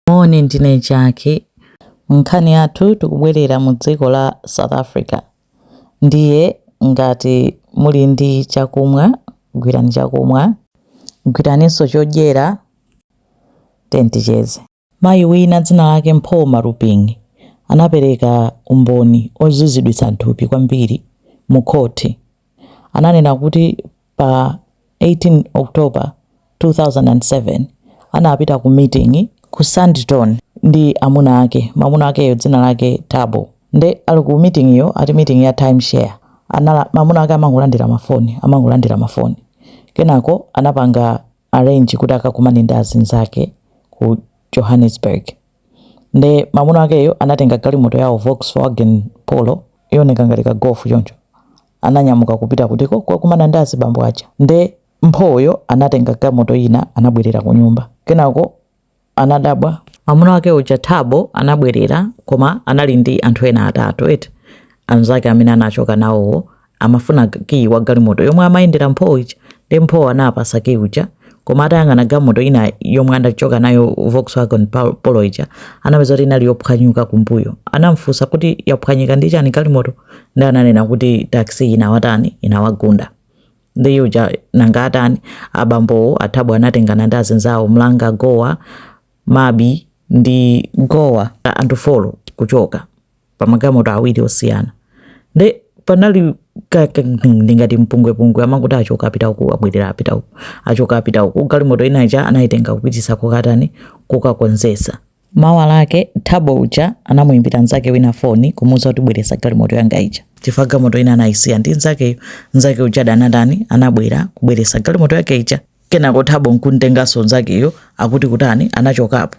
Moni ndine Jackie. Nkhani yathu tikubwerera mu dziko la South Africa. Ndiye ngati muli ndi chakumwa, gwirani chakumwa. Gwiraninso chodyera, tiyeni ticheze. Mayi wina dzina lake Mpho Maruping anapereka umboni oziziritsa nthupi kwambiri mu khoti. Ananena kuti Pa 18 October, 2007, anapita ku miting'i ku Sandton ndi amuna ake. Mamuna akeyo dzina lake Thabo. Nde ali ku miting'iyo, ati miting'i ya time share, anala, mamuna ake amangolandira mafoni, amangolandira mafoni. Kenako anapanga arrange kuti akakumane ndi azinzake ku Johannesburg. nde mamuna akeyo anatenga galimoto yawo Volkswagen Polo yooneka ngati ka Golf choncho ananyamuka kupita kutiko kukakumana ndi azibambo aja nde mphoyo anatenga galimoto ina anabwerera kunyumba kenako anadabwa mamuna wake uja Thabo anabwerera koma anali ndi anthu ena atatu eti anzake amene anachoka nawowo amafuna key wa galimoto yomwe amayendera mpho ija nde mpho anapasa key uja koma atayang'ana galimoto ina yomwe anachoka nayo volkswagen Pol- polo ija anapeza kuti inali yophwanyuka kumbuyo anamfunsa kuti yaphwanyika ndi chani galimoto nde ananena kuti taxi inawatani inawagunda nde uja nanga atani abambowo a thabo anatengana ndi azinzawo mhlanga gxowa mabe ndi gxowa anthu folo kuchoka pa magalimoto awiri osiyana nde panali ka- ka- ndingati mpungwepungwe amangokuti achoka apita uku abwerera apita uku achoka apita uku galimoto ina ija anayitenga kupitisa kukatani kukakonzesa mawa lake thabo uja anamuyimbira mnzake wina foni kumuwuza kuti bweresa galimoto yanga ija chifukwa galimoto ina anayisiya ndi mnzakeyo mnzake uja anatani anabwera kubweresa galimoto yake ija kenako thabo nkuntenganso mnzakeyo akuti kutani anachokapo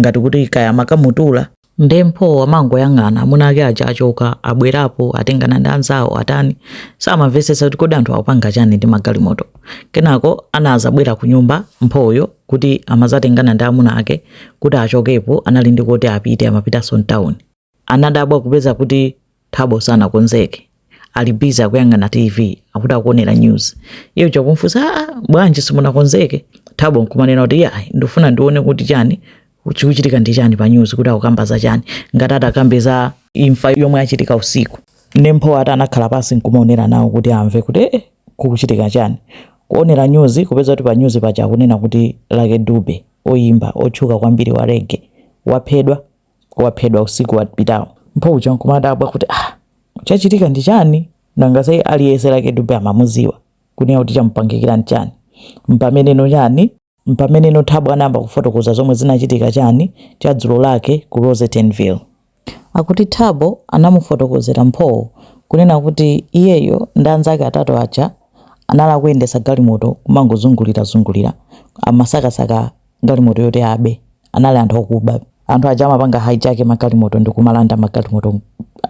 ngati kuti kaya amakamutula nde mpho amangoyang'ana amuna ake aja achoka abwerapo atengana ndi anzawo atani samamvesesa kuti kodi anthu akupanga chani ndi magalimoto kenako anazabwera ku nyumba mphoyo kuti amazatengana ndi amuna ake kuti achokepo anali ndi koti apite, amapitanso mtawuni Anadabwa kupeza kuti Thabo sanakonzeke. Ali busy akuyang'ana TV, akuti akuonera news. Iye uja kumfunsa, "Ah, ah, bwanji simunakonzeke?" Thabo nkumanena kuti, "Ya, ndifuna ndione kuti chani chikuchitika ndi chani pa news kuti akukamba za chani. Ngati atakambe za imfa yomwe achitika usiku." Nde Mpho ati anakhala pansi nkumaonera nawo kuti amve kuti eh, eh, kukuchitika chani. Kuonera news kupeza kuti pa news paja akunena kuti Lucky Dube, oyimba otchuka kwambiri wa reggae, waphedwa. waphedwa usiku wapitawo mpho uja nkumadabwa kuti ah chachitika ndi chani nanga sai aliyense Lucky Dube amamuziwa kunena kuti chamupangikira ndi chani mpameneno chani mpameneno Thabo anayamba kufotokoza zomwe zinachitika chani cha dzulo lake ku Rosettenville akuti thabo anamufotokozera mphowo kunena kuti iyeyo ndi anzake atatu aja anali akuyendesa galimoto kumangozungulirazungulira amasakasaka galimoto yoti abe. Anali anthu okuba. Anthu aja amapanga hijack magalimoto ndi kumalanda magalimoto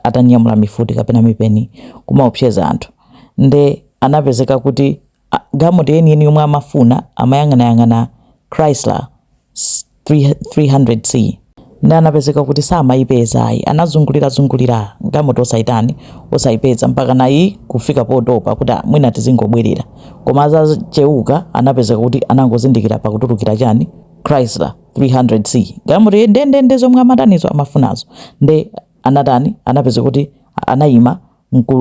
atanyamula mifuti kapena mipeni kumaopseza anthu. Nde anapezeka kuti a- galimoto yeniyeni yomwe amafuna amayang'anayang'ana Chrysler s- 300C. Nde anapezeka kuti samayipeza ayi anazungulira zungulira gamoto osayitani osayipeza mpaka nayi kufika potopa kuti ah mwina tizingobwerera koma azacheuka anapezeka kuti anangozindikira pakutulukira chani Chrysler 300 C galimoto ndendende zomwe amatanizo amafunazo nde anatani anapezeka kuti anayima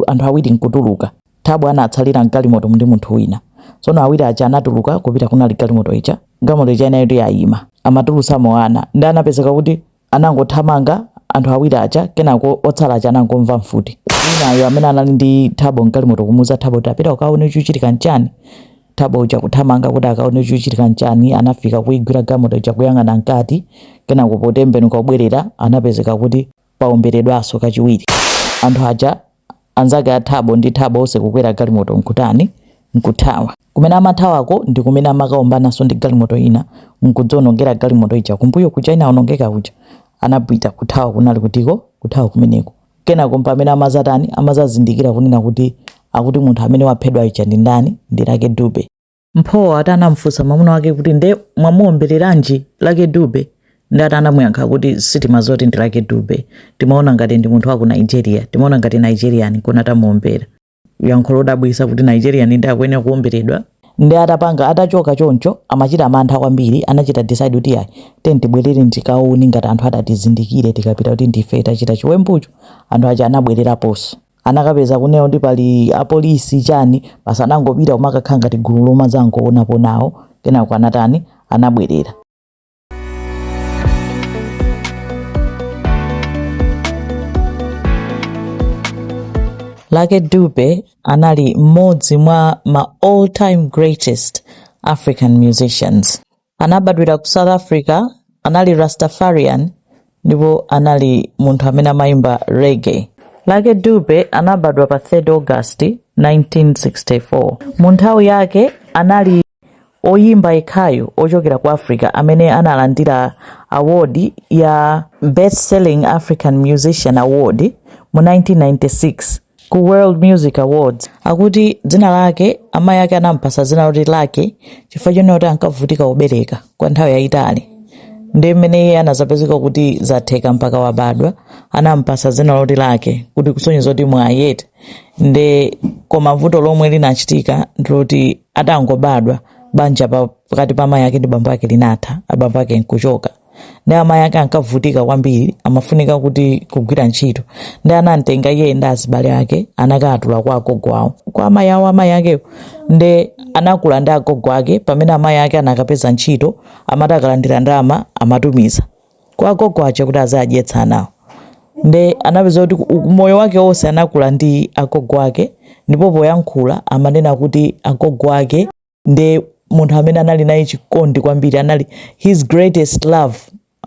anthu awiri nkutuluka Thabo anatsalira m'galimotomu ndi munthu wina. Tsono awiri aja anatuluka kupita kunali galimoto ija. Galimoto ija inali kuti yayima. Amatulutsamo ana. Ndiye anapezeka kuti anangothamanga anthu awiri aja kenako otsala aja anangomva mfuti. Winayo amene anali ndi Thabo m'galimoto kumuwuza Thabo kuti ah pita ukaone chikuchitika n'chiyani. Thabo uja kuthamanga kuti akaone chikuchitika n'chiyani anafika kuyigwira galimoto ija kuyang'ana mkati kenako potembenuka kubwerera anapezeka kuti Paomberedwanso kachiwiri. Anthu aja, anzake a Thabo ndi Thabo onse kukwera galimoto n'kutani? N'kuthawa. Kumene amathawako ndi kumene amakaombananso ndi galimoto ina n'kudzaonongera galimoto ija kumbuyo kuja inaonongeka kuja. Anapita kuthawa kunali kutiko? Kuthawa kumeneko. Kenako mpamene amadzatani? Amadzazindikira kunena kuti akuti munthu amene waphedwa uja ndi ndani? Ndi Lucky Dube. Mpho ati anamfunsa mwamuna wake kuti nde mwamuombereranji Lucky Dube ndi ati anamuyankha kuti sitimadziwa zoti ndi Lucky Dube timaona ngati ndi munthu wa ku Nigeria timaona ngati Nigerian kona tamuombera yankho lodabwisa kuti Nigerian ndi akuyenera kuomberedwa ndi atapanga atachoka choncho amachita mantha kwambiri anachita decide kuti ayi tiyeni tibwerere tikaone ngati anthu atatizindikire tikapita kuti ndife tachita chiwembucho anthu aja anabwereraponso anakapeza kunena kuti pali apolisi chani basi anangopita kumakakhala ngati gulu lomadzangowonapo nawo kenako anatani anabwerera Lucky Dube anali mmodzi mwa ma all time greatest African musicians. anabadwira ku south africa anali rastafarian ndipo anali munthu amene amayimba reggae lucky dube anabadwa pa 3 august 1964 mu nthawi yake anali oyimba yekhayo ochokera ku africa amene analandira award ya best selling african musician award mu 1996 ku World Music Awards. Akuti dzina lake amayi ake anampasa dzina loti Lucky chifukwa chonena kuti ankavutika kubereka kwa nthawi yayitali ndi mmene iye anazapezeka kuti zatheka mpaka wabadwa anampasa dzina loti Lucky kuti kusonyeza kuti mwayi eti nde koma vuto lomwe linachitika ndiloti atangobadwa banja pa- pakati pa amayi ake ndi bambo ake linatha abambo ake nkuchoka ndi amayi ake ankavutika kwambiri amafunika kuti kugwira ntchito ndi anamtenga iye ndi azibale ake anakatula kwa agogo awo kwa amayi awo amayi akewo ndi anakula ndi agogo ake pamene amayi ake anakapeza ntchito amati akalandira ndalama amatumiza kwa agogo aja kuti azidyetsa anawo ndi anapezeka kuti ku- moyo wake wonse anakula ndi agogo ake ndipo poyankhula amanena kuti agogo ake ndi munthu amene anali naye chikondi kwambiri anali his greatest love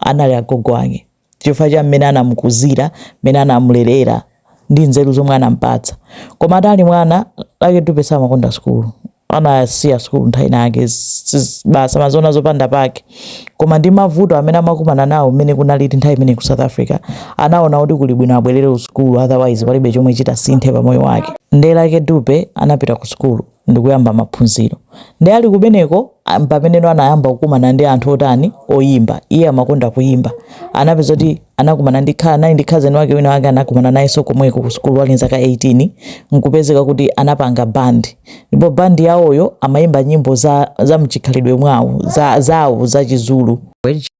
anali agogo ake chifukwa cha mmene anamukuzira mmene anamulerera ndi nzeru zomwe anampatsa koma atali mwana lucky dube samakonda sukulu anasiya sukulu nthawi inayake basi amaziona zopanda pake koma ndi mavuto amene amakumana nawo mmene kunalili nthawi imeneyo ku south africa anaona kuti kuli bwino abwerere ku sukulu otherwise palibe chomwe chitasinthe pa moyo wake nde lucky dube anapita ku sukulu ndikuyamba maphunziro. Nde ali kumeneko mpamene no anayamba kukumana ndi anthu otani oyimba. Iye amakonda kuyimba. Anapezeka kuti anakumana ndi anali ndi cousin wake wina wake anakumana nayenso komweko ku sukulu ali nzaka 18 nkupezeka kuti anapanga band. Ndipo band yawoyo amayimba nyimbo za za mchikhalidwe mwawo za zawo za chizulu.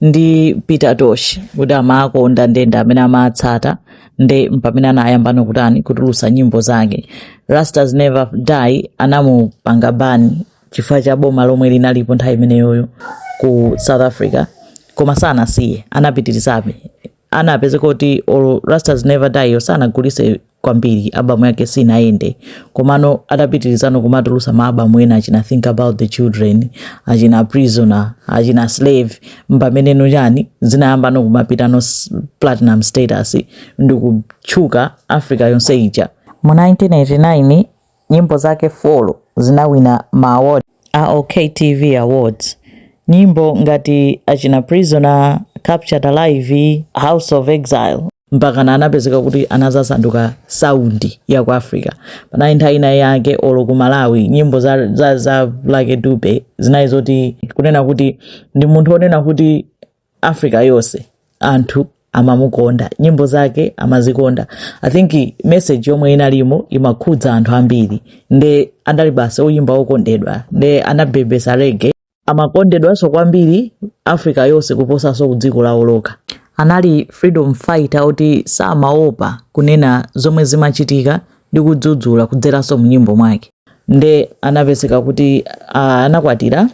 ndi peter tosh kuti amawakonda ndi amene amawatsata nde mpamene anayambano kutani kutulusa nyimbo zake rastas never die anamupanga ban chifukwa cha boma lomwe linalipo nthawi imeneyoyo ku south africa koma sanasiye anapitirizabe anapezeka kuti olo rastas never die yo sanagulise kwambiri album yake sinayende komano atapitirizano kumatulusa ma album ena achina think about the children achina prisoner achina slave mpameneno chani zinayambano kumapitano s- platinum status ndikutchuka africa yonse ija mu 1989 Nyimbo zake 4 zinawina ma award a OKTV Awards. Nyimbo ngati achina Prisoner, Captured Alive, House of Exile. mpakana anapezeka kuti anazasanduka sound ya ku africa panali nthawi ina yake olo ku malawi nyimbo za, za, za Lucky Dube zinali zoti kunena kuti ndi munthu onena kuti africa yonse anthu amamukonda nyimbo zake amazikonda i think message yomwe inalimo imakhudza anthu ambiri nde anali basi oyimba okondedwa nde anabebesa reggae amakondedwanso kwambiri africa yonse kuposanso kudziko lawo lokha anali freedom fighter oti samaopa kunena zomwe zimachitika ndi kudzudzula kudzeranso mnyimbo mwake nde anapezeka kuti ah, anakwatira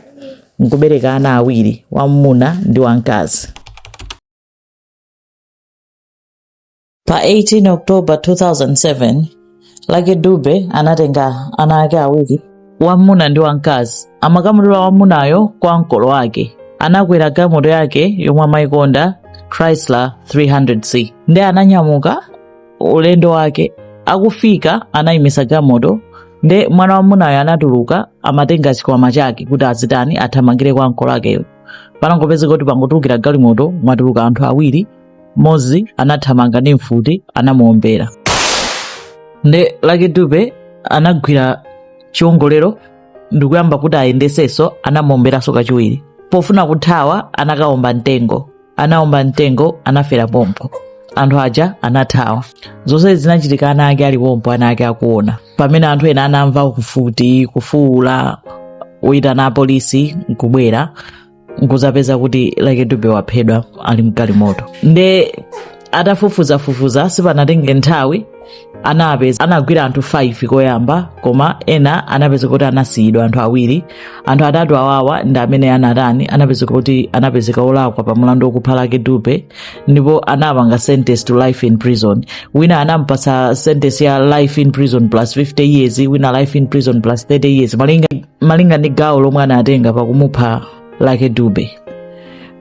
nkubereka ana awiri wamuna ndi wamkazi pa 18 october 2007 Lucky Dube anatenga ana ake awiri wamuna ndi wamkazi amakamutula wamunayo kwa ankolo ake anakwera galimoto yake yomwe amayikonda chrysler 300c nde ananyamuka ulendo wake akufika anayimisa galimoto nde mwana wamunayo anatuluka amatenga chikwama chake kuti azitani athamangire kwa ankolo akewo panangopezeka kuti pangotulukira galimoto mwatuluka anthu awiri mmodzi anathamanga ndi mfuti anamuombera nde Lucky Dube anagwira chiongolero ndikuyamba kuti ayendesenso anamuomberanso kachiwiri pofuna kuthawa anakaomba mtengo anaomba mtengo anafera pompo anthu aja anathawa zonsezi zinachitika ana ake ali pompo ana ake akuona pamene anthu ena anamva kufuti kufuula kuyitana apolisi nkubwera nkuzapeza kuti Lucky Dube waphedwa ali mgalimoto nde atafufuzafufuza sipanatenge nthawi anagwira anthu 5 koyamba koma ena anapezeka kuti anasiyidwa anthu awiri anthu atatu awawa ndi amene anatani anapeza kuti anapezeka olakwa pa mlandu wokupha Lucky Dube ndipo anawapanga sentence to life in prison wina anampasa sentence ya life in prison plus 50 years wina life in prison plus 30 years malinga, malinga ndi gawo lomwe anatenga pakumupha Lucky Dube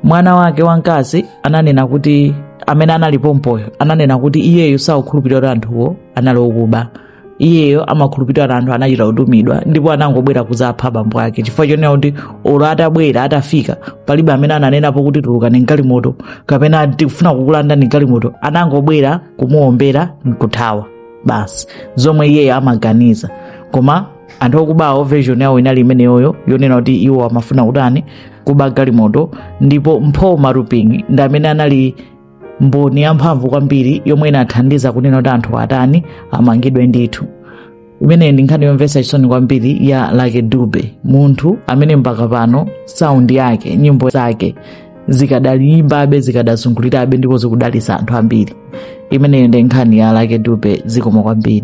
mwana wake wamkazi ananena kuti amene anali pompoyo ananena kuti iyeyo sakukhulupirira kuti anthuwo anali okuba iyeyo amakhulupirira kuti anthu anachita kutumidwa ndipo anangobwera kuzapha bambo ake chifukwa chonena kuti olo atabwera atafika palibe amene ananenapo kuti tulukani mgalimoto kapena tikufuna kukulandani galimoto anangobwera kumuombera nkuthawa basi zomwe iyeyo amaganiza koma anthu okubawo version yawo inali imeneyoyo yonena kuti iwo amafuna kutani kuba galimoto ndipo mpho maruping ndi amene anali mboni yamphamvu kwambiri yomwe inathandiza kunena kuti anthu atani amangidwe ndithu imeneyi ndi nkhani yomvetsa chisoni kwambiri ya lucky dube munthu amene mpaka pano sound yake nyimbo zake zikadalimbabe zikadazungulirabe ndipo zikudalitsa anthu ambiri imeneyo ndi nkhani ya lucky dube zikomo kwambiri